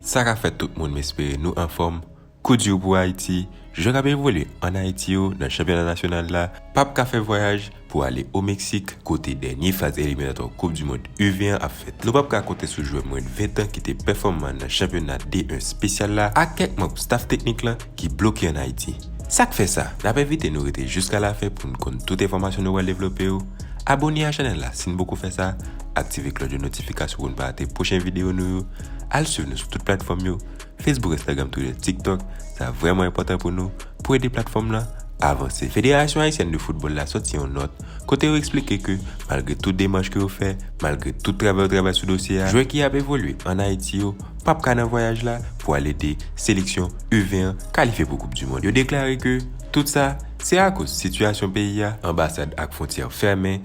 Sa ka fèt tout moun m espere nou anfòm, kou di w pou Ayiti, jan k ap evolye an Ayiti yo nan chanpyona nasyonal la, p ap ka fè vwayaj, pou ale o Meksik kote dènye faz eliminatwa koup du mond U 20 an ap fèt. Nou pap ka konte sou jwè mwen de 20 tan ki te pèfòman nan chanpyona D 1 spesyal la ak kèk manb staf teknik lan ki bloke an Ayiti. Sak fè sa? Nap envite nou rete jiska la fen poun konn tout enfòmasyon nou pral devlope yo. Abone a chanèl la sin poko fè sa, aktive klòch de notifikasyon poun pa rate pwochen video nou yo, al swiv nou sou tout platfòm yo. Facebook, Instagram, Twitter, TikTok, sa vrèman enpòtan pou nou pou ede platfòm lan avanse. Federasyon Ayisyèn de Foutbòl la sòti yon nòt kote yo eksplike ke malgre tout demach ke yo fè, malgre tout travay yo travay sou dosye a, jwè ki ap evolye an Ayiti yo pap ka nan vwayaj la pou al ede seleksyon U20 an kalifye pou koup dimond. Yo deklare ke tout sa se akoz sitiyasyon peyi a, anbasad ak fwontyè fèmen,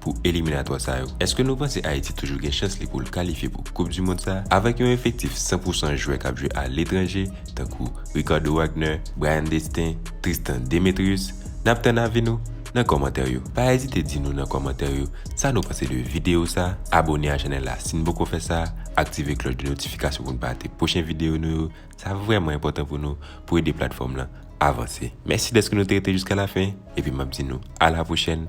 pou eliminatwa sa yo. Eske nou panse Ayiti toujou gen chans li pou l kalifye pou koup di mond sa avèk yon efektif 100 pou 100 jwè k ap jwe aletranje tankou Ricardo Wagner, Bryan Destin, Tristan Demetrius? N ap tann avi nou nan kòmantè yo. Pa ezite di nou nan kòmantè yo sa nou panse de videyo sa, abone a chanèl la si n poko fè sa, aktive klòch de notifikasyon pou n pa rate pwochen videyo nou yo, sa vrèman enpòtan pou nou pou ede platfòm lan avanse. Mèsi dèske nou te rete jiskalafen epi m ap di nou alapwochèn